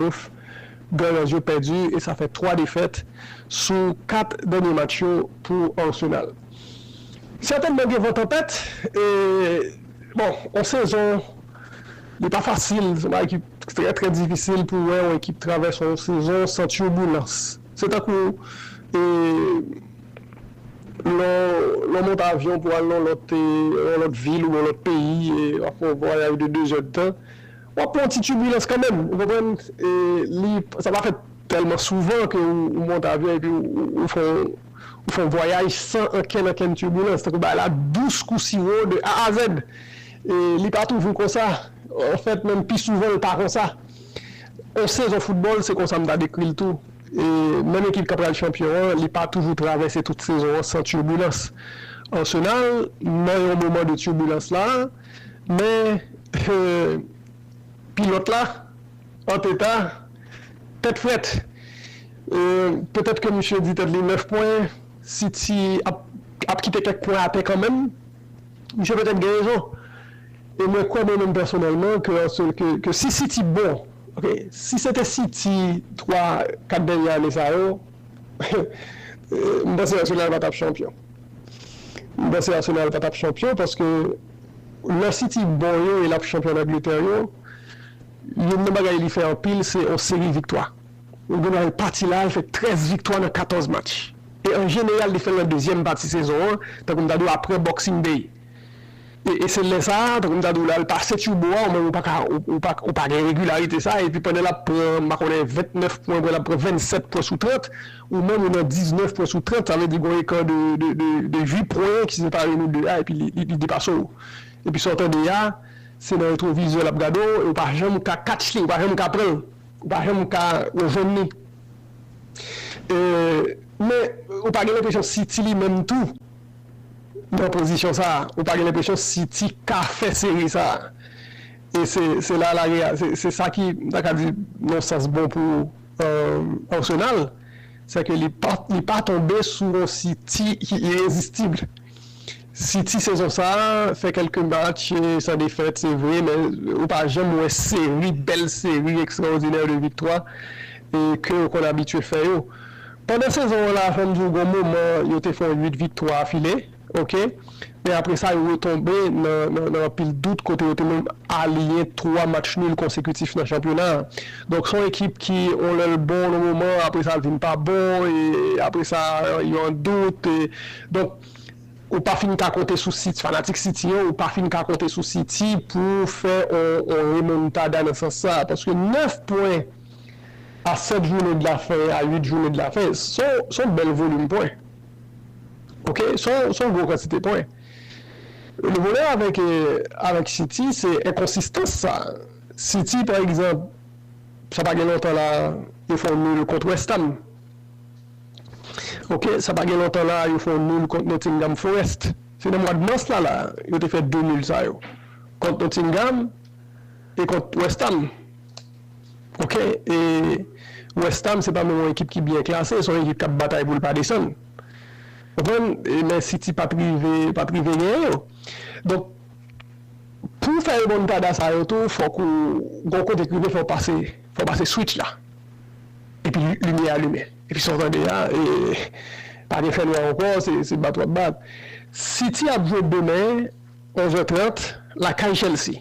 Ouf! Gunners yo pèdi e sa fè 3 defèt sou 4 dènye match yo pou Arsenal. Sètènman gen van tanpèt e bon yon sezon li pa fasil, se yon bagay ki trè trè difisil pou wè yon ekip travèse yon sezon san tirbulans. Se tankou e lè w monte avyon pou al nan yon lòt vil oubyen yon lòt peyi e w ap fè yon vwayaj de 2 zè de tan. W ap pran yon ti tibilans kanmenm, ou konprann, e li, sa pa fèt tèlman souvan ke ou monte avyon epi ou fè yon, ou fè yon vwayaj san ankenn ankenn tibilans, tankou bagay la dous kou siwo de A a zèd. E li pa toujou konsa, anfèt menm pi souvan l pa konsa. Yon sezon foutbòl se konsa m ta dekri l tou, e menm ekip k ap pral chanpyon an, li pa toujou travèse tout sezon an san tibilans. Arsenal nan yon moman de tibilans la. Men pilòt la anteta tèt frèt petèt ke misye di tèt li 9 pwen City ap kite kèk pwen atè kanmenm misye petèt gen rezon e mwen kwè mwen menm pèsonèlman ke si City bon ok si se te City 3 4 dènye ane sa yo mpanse Arsenal pa tap chanpyon. M panse Arsenal pa tap chanpyon paske lò City bon yo e lap chanpyon an Angletè yo youn nan bagay li fè anpil se yon seri viktwa ou gen nan yon pati la li fè 13 viktwa nan 14 match e an jeneral li fèl nan dezyèm pati sezon an tankou m ta di w aprè boxing day. E se lè sa a, tankou m ta di w la, l pase Turbo a, ou menm ou pa ka, ou pa gen regilarite sa a, epi pandan l ap pran, m pa konnen, 29 pwen, apre l ap pran 27 pwen sou 30, ou menm ou nan 19 pwen sou 30, sa vle di gon eka de 8 pwen ki separe nou 2 a, epi li depase w. Epi sa w tande a, se nan retwovizè l ap gade w, e ou pa janm ka catch li, ou pa janm ka pran l, ou pa janm ka rejwenn li. Men, ou pa gen lenpresyon si ti li menm tou. nan pozisyon sa ou pa gen lenpresyon siti ka fè seri sa e se se la lari a se se sa ki m ta ka di non sans bon pou Arsenal se ke li pa li pa tonbe sou yon siti ki irezistib siti sezon sa fè kelke match san defèt se vre men ou pa janm wè seri bèl seri ekstraodinè de viktwa e ke ou konn abitye fè yo. Pandan sezon an la fòm di w gon moman yo te fè yon 8 viktwa afile ok men apre sa yo retonbe nan anpil dout kote yo te menm aliyen 3 match nul konsekitif nan chanpyona an donk son ekip ki yon lè l bon yon moman apre sa l vin pa bon e apre sa yo an dout donk ou pa fin ka konte sou city fanatik city yo ou pa fin ka konte sou city pou fè yon remontada nan sans sa paske 9 pwen. a 7 joune de la fen a 8 joune de la fen son bel volume pwen ok son gro kantite pwen le volè avek avek city se enkonsistans sa city pa egzanp sa pa gen lontan la yo fon nul kont westham ok sa pa gen lontan la yo fon nul kont notingham forest se nan mwad mas la la yo te fè 2 nul sa yo kont notingham e kont westham. Ok e westham se pa menm yon ekip ki byen klase son ekip kap batay poul pa desann konprann e men city pat rive pat rive genyen yo donk pouw fè remontada sa yo tou fòk ou gon kote k rive fòw pase fòw pase switch la epi limyè a limen epi sa w tande a e pa gen fè nwa ankò se se bat wap bat city ap jwe demen onzè trant lakay chelsea.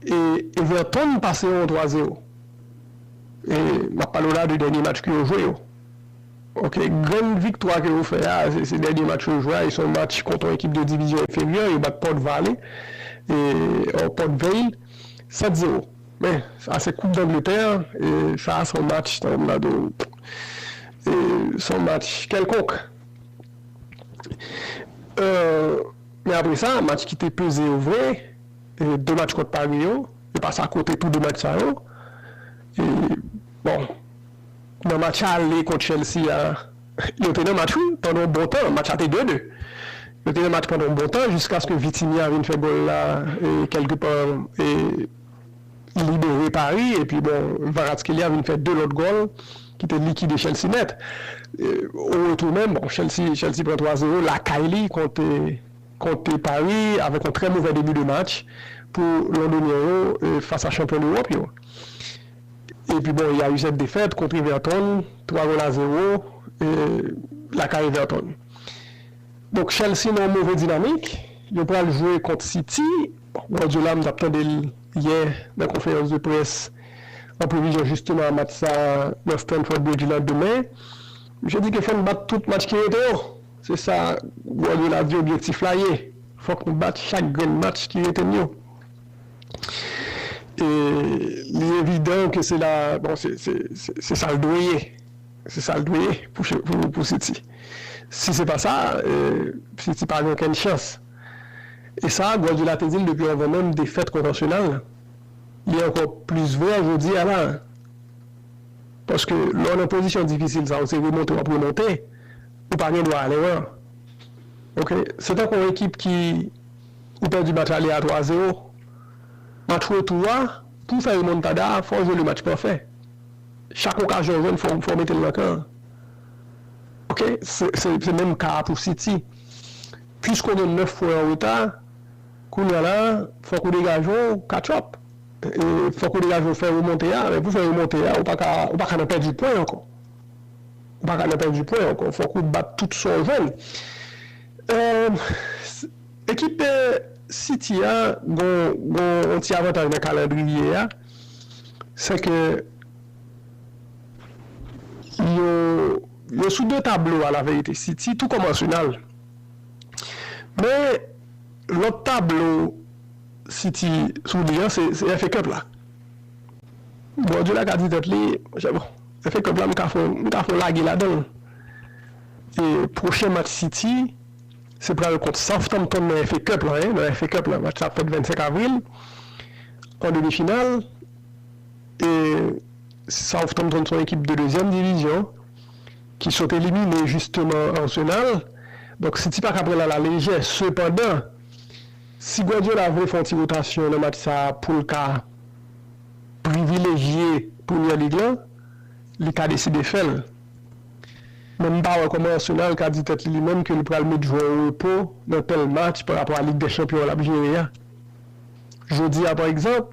E Everton pase yon 3 zero e map pale w la de dènye match ke yo jwe yo ok grenn viktwa ke yo fè a se dènye match yo jwe a e se yon match kont yon ekip de divizyon enferyè yo bat Port Vale e o Port Vale 7 zero men sa se koup dangletè e sa se yon match tankou m ta di w e se yon match kèlkonk e men apre sa match ki te peze yo vre. 2 match kont Paris yo, yo pase a kote tou 2 match sa yo. E bon, nan match ale kont Chelsea a, yo te nan match wi, pandan yon bon tan, match la te 2-2. Yo te nan match pandan yon bon tan jiskaske Vitinha vin fè gòl la e kèlke pa e libere Paris epi bon Kvaratskhelia vin fè 2 lòt gòl ki te likide Chelsea nèt. O retou menm, bon Chelsea Chelsea pran 3 zero lakay li kont kont Pari avèk yon trè movè debi de match pou Londonyen yo fas a chanpyon dEwòp yo. Epi bon ya u sèt defèt kont Everton, twa gòl a zewo lakay Everton. Donk Chelsea nan yon move dinamik, yo pral jwe kont City, bon Guardiola m tap tande l yè nan konferans de près an previzyon jisteman a match sa nan Stamford Bridge lan demen, misye di ke fò n bat tout match ki rete yo. Se sa Guardiola di objektif la ye, fòk nou bat chak grenn match ki rete n yo. E li evidan ke se la, bon se sa l dwe ye, se sa l dwe ye pou City. Si se pa sa, City pa gen okenn chans. E sa Guardiola te di l depi anvan menm defèt kont Arsenal la. Li ankò plis vrè jodi a la a. Paske lè w nan pozisyon difisil sa, ou se remonte w ap remonte. Ou pa gen dwa ale wè l. Ok. Se tankou yon ekip ki ou pèdi match ale a 3 zero. Match retou a, pou w fè remontada a, fò w jwe le match pafè. Chak okazyon w jwenn fò w mete l nan kan an. Ok. Se menm ka a pou City. Piske w gen 9 pwen an reta, kounye a la, fòk ou degaje w catch up. Fòk ou degaje w fè remonte a. Men pou w fè remonte a, ou pa ka nan pèdi pwen ankò. Ou pa ka nan pèdi pwen ankò. Fòk ou bat tout sa w jwenn. Ekip City a gen yon ti avantaj nan kalandriye a. Se ke yo sou 2 tablo alaverite. City tou kòm Arsenal. Men, lòt tablo City sou li an se FA Cup la. Bòdye la ka di tèt li, Monchè bon, FA Cup la m ka fon, m ka fon lage ladan l. E pwochen match City se pral kont Southampton nan FA Cup la, nan FA Cup la. Match la ap fèt 25 avril, an demi final. E Southampton son ekip de dezyèm divizyon ki sot elimine jisteman Arsenal. Donk City pa ka pran l a la lejè. Sepandan, si Guardiola vle fè yon ti wotasyon nan match sa a pou l ka. privilejye Premier League lan, li ka deside fè l. Men m pa wè kòman Arsenal ka di tèt li li menm ke li pral met jwè o repo nan tèl match pa rapò a Lig dè Chanpyon an l ap jere a. Jodi a pa egzanp,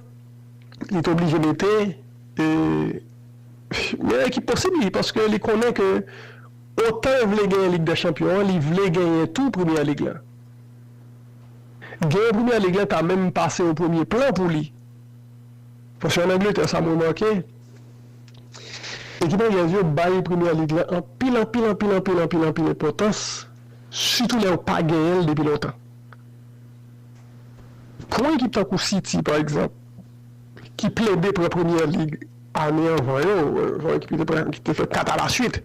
li te oblije mete e meyè ekip posib li paske li konnen ke otan l vle genyen Lig dè Chanpyon an, li vle genyen tou Premier League lan. Genyen Premier League lan ta menm pase o premye plan pou li. Paske an Angletè sa m remake, ekip anglèz yo bay Premier League lan anpil anpil anpil anpil anpil anpil enpòtans sitou lè yo pa genyen l depi lontan. Pou yon ekip tankou City pa egzanp ki plede pran Premier League ane anvan yo, yon ekip ki te pran ki te fè 4 alaswit.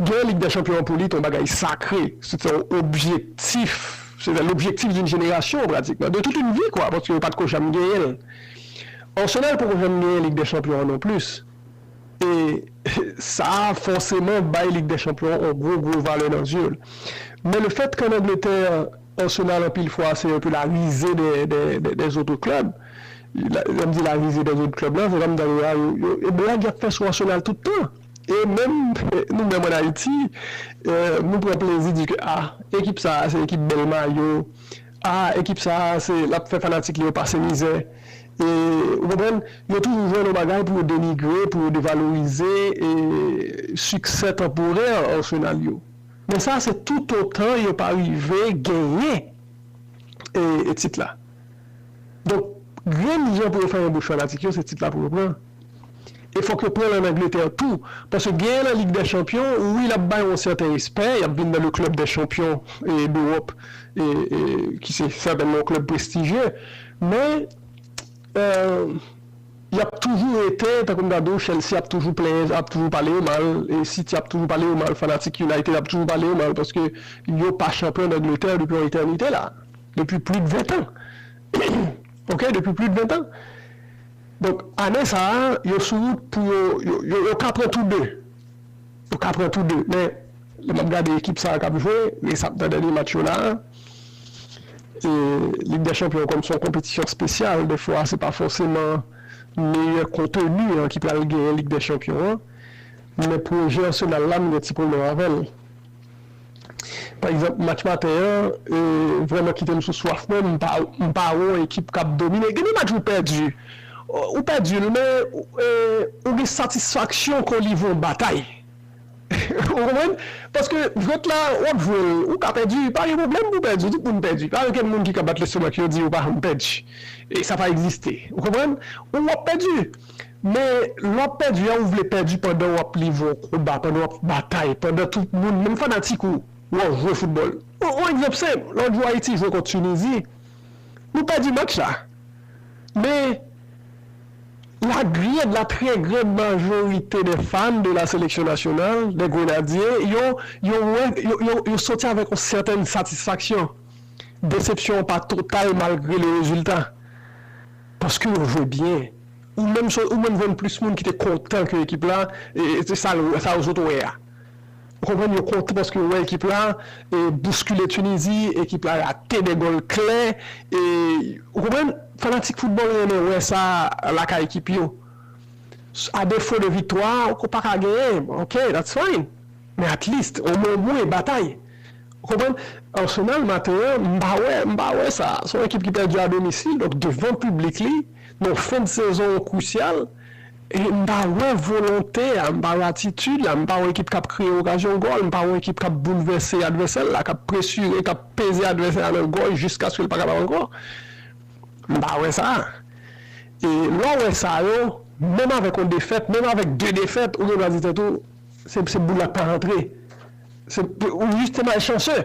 Genyen Lig dè Chanpyon an pou li t on bagay sakre, se t on objektif, se tè lobjektif d'un jenerasyon pratikman, de tout une vie kwa, paske yo pa t ko janm genyen l. Arsenal poko janm genyen Lig dè Chanpyon an non plis, e sa a fòseman bay Lig dè Chanpyon an on gwo gwo valè nan zye l. Men le fèt ke an Angletè, Arsenal anpil fwa se un peu la risée des des autres clubs, lè m di la risée des autres clubs la, se pa m ta di a yo, e blag y ap fè sou Arsenal tout tan. E menm nou menm an Ayiti, nou pran plezi di ke a, ekip sa a se ekip bèl mayo, a ekip sa a se l ap fè fanatik li yo pase mizè. E ou konprann, yo toujou jwenn yon bagay pou yo denigre, pou yo devalorize siksè tanporè Arsenal yo. Men sa se toutotan yo pa rive genyen tit la. Donk grenn jan pou yo fèmen bouch fanatik yo se tit la pou yo pran. E fòk yo pran l an Angletè tou. Paske genyen nan Lig dè Chanpyon, wi l ap bay yon sèten respè, y ap vin nan le club des champions d'Europe ki se sètènman yon club prestijye. Men, y ap toujou rete, tankou m ta di w, Chelsea ap toujou plenyen, ap toujou pale yo mal, City ap toujou pale yo mal, fanatik United ap toujou pale yo mal paske yo pa chanpyon Dangletè depi yon etènite la a. Depi plis de ventan. Ok, depi plis de ventan. Donk ane sa a yo sou wout pou yo yo ka pran tou 2 yo ka pran tou 2 men lè map gade ekip sa a kap jwe res ap nan dènye match yo la a e lig dè chanpyon kòm son konpetisyon spesyal dèfwa se pa fòseman meyè konteni an ki pral genyen lig dè chanpyon an men pwojè Arsenal la m gen ti pwoblèm avèl. Pa egzanp match maten an vrèman kite m sou swaf mwen, m pa wè yon ekip k ap domine. Gen de match ou pèdi, ou pèdi l men ou gen satisfaksyon ke w livre yon batay. Ou konprann? Paske jwèt la w ap jwe l, ou ka pèdi, pa gen pwoblèm pou w pèdi, tout moun pèdi. Pa gen okenn moun ki ka bat lestomak yo di yo pa janm pèdi. Sa pa egziste. Ou konprann? Ou ap pèdi. Men, lè w ap pèdi a, ou vle pèdi pandan w ap livre yon konba, pandan w ap batay, pandan tout moun, menm fanatik ou, wè w jwe foutbòl. Yon egzanp senp, lòt jou Ayiti jwe kont Tinizi, nou pèdi match la. Men, la grande, la très grande majorité des fans de la sélection nationale, des Grenadiers, yo, yo wè, yo, yo, yo sòti avèk yon sètèn satisfaksyon. Desepsyon an pa total malgre le rezilta. Paske yo jwe byen. Ou menm so ou menm jwenn plis moun ki te kontan ke ekip la e se sa l sa yo sot wè a. Ou konprann yo kontan paske yo wè ekip la e bouskile Tunizi, ekip la rate 2 gòl klè e ou konprann fanatik foutbòl renmen wè sa lakay ekip yo. A defo de viktwa ou ko paka genyen ok that's fine men at least o mwen mwen batay ou konprann. Arsenal maten an m pa wè m pa wè sa son ekip ki pèdi a domisil donk devan piblik li. Non, fen de sezon an krusyal e m pa wè volonte a, m pa wè atitid la, m pa wè ekip k ap kreye okazyon gòl, m pa wè ekip k ap boulvèse advèsè l la, k ap presire, k ap peze advèsè a nan gòj jiskaske l pa kapab ankò. M pa wè sa. E lè w wè sa yo, menm avèk yon defèt, menm avèk de defèt, ou gen dwa di tèt ou, se boul la k pa rantre. Ou jis te malchanseu.